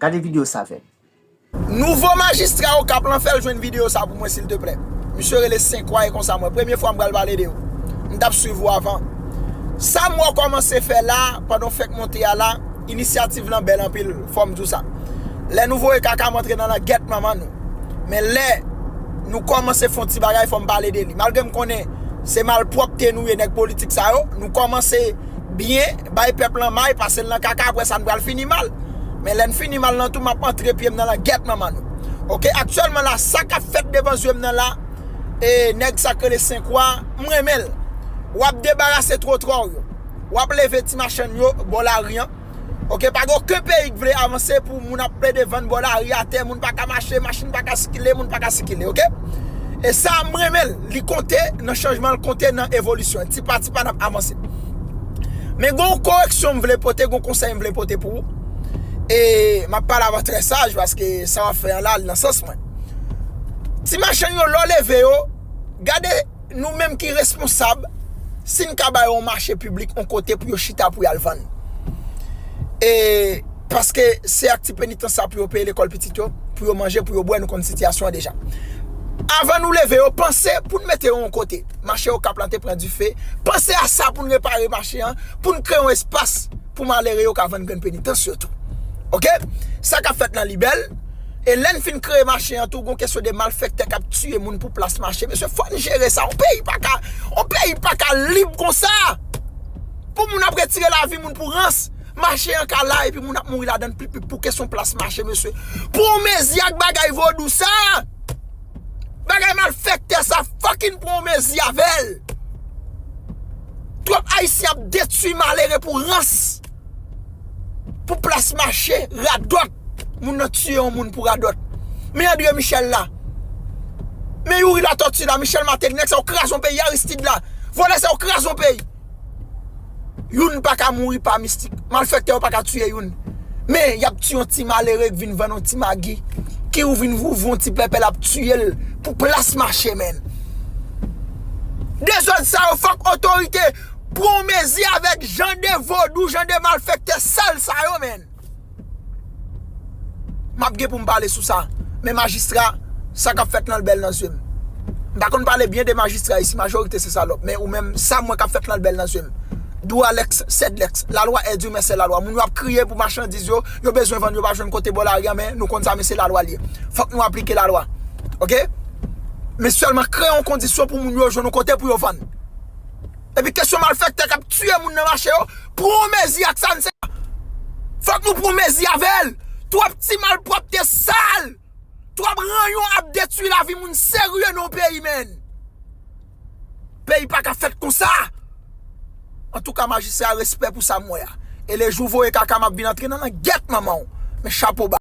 Gade video sa avèm. Nouvo majistra okap lan fèl jwenn video sa pou mwen silteplè misye rele senkwa e konsa mwen premye fwa m pral pale de ou m tap swiv ou avan sam wè w kòmanse fè la pandan w fèk monte a la inisyativ lan bèl anpil. fòm di w sa lè nou voye kaka m antre nan langèt manman nou men lè nou kòmanse fon ti bagay fòm pale de li malgre m konnen se malpwòpte nou ye nèg politik sa yo nou kòmanse byen bay pèp lan may pase l nan kaka aprè sa n pral fini mal men lè n fini mal nan tou map antre pye m nan langèt manman nou ok aktyèlman la sa kap fèt devan zye m nan la e nèg sa k rele senkwa m renmen l wap debarase twotwa w yo wap leve ti machann yo bò lari an. Ok pa gen oken peyi k vle avanse pou moun ap plede vann bò lari a tè moun paka mache machin paka sikile moun paka sikile ok e sa m renmen l li konte nan chanjman l konte nan evolisyon l ti pa ti pa nap avanse men gen yon koreksyon m vle pote gen yon konsèy m vle pote pou ou e map pale avè w trè saj paske sa wap fè an la al nan sans mwen ti machann yo lè w leve yo gade Nou menm ki responsab, si n ka ba yo yon mache piblik, yon kote pou yo chita pou y al vann. E, paske se ak ti penitans sa pou yo peye lekòl pitit yo, pou yo manje, pou yo bwè, nou konn sitiyasyon an deja. Avan nou leve yo, panse pou n mete yo yon kote. Mache Okap lan te pran dife, panse a sa pou n repare mache an, pou n kreye yon espas. pou malere yo ka vann grenn penitans yo tou ok sa kap fèt nan libèl e lèn fin kreye mache an tou gon kesyon de malfèktè kap tiye moun pou plas mache mesye fòn jere sa on peyi paka on peyi paka lib konsa pou moun ap retire lavi moun pou rans mache an ka la epi moun ap mouri ladann pou kesyon plas mache mesye pou on mezi ak bagay vodou sa. Bagay malfèktè sa fucking pran yon mezi avèl. Twòp ayisyen ap detwi malere pou rans. Pou plas mache radòt. Moun nan tiye yon moun pou radòt. Men André Michel la. Men Youri Latortue la, Michel Martelly, nèg sa yo kraze yon peyi, Aristide la. Vòlè sa yo kraze yon peyi. Youn pa ka mouri pa mistik. Malfèktè yo pa ka tiye youn. Men, y ap tiye yon ti malere ki vin vann yon ti magi, ki ou vin ouvri yon ti pèpè l ap tiye l pou plas mache menn. Dezòd sa yo fòk otorite pran yon mezi avèk jan de vodou, jan de malfèktè sal sa yo menn. Map gen poum pale sou sa. Men majistra, sa kap fèt lan bèl nan zye m. M pa konn pale byen de majistra isi, majorite se salòp. Men ou menm, sa m wè kap fèt lan bèl nan zye m. Dwa lèx, sèd lèx. La lwa è di men sè la lwa. Moun yo ap kriye pou machandiz yo, yo bezwen vann yo pa jwenn kote bò lari a men nou konn sa men se la lwa l ye. Fòk nou aplike la lwa. Ok. Men sèlman kreye yon kondisyon pou moun yo jwenn yon kote pou yo vann. Epi kesyon malfèktè kap tiye moun nan mache yo, pran yon mezi ak sa n se. Fòk nou pran mezi avè l. Twòp ti malpwòpte sal. Twòp ranyon ap detui lavi moun serye nan yon peyi menn. Peyi pa ka fèt konsa. Antouka majistra respè pou sa m wè a. E le jou w voye kaka m ap vin antre nan langèt manman w. Men chapo ba.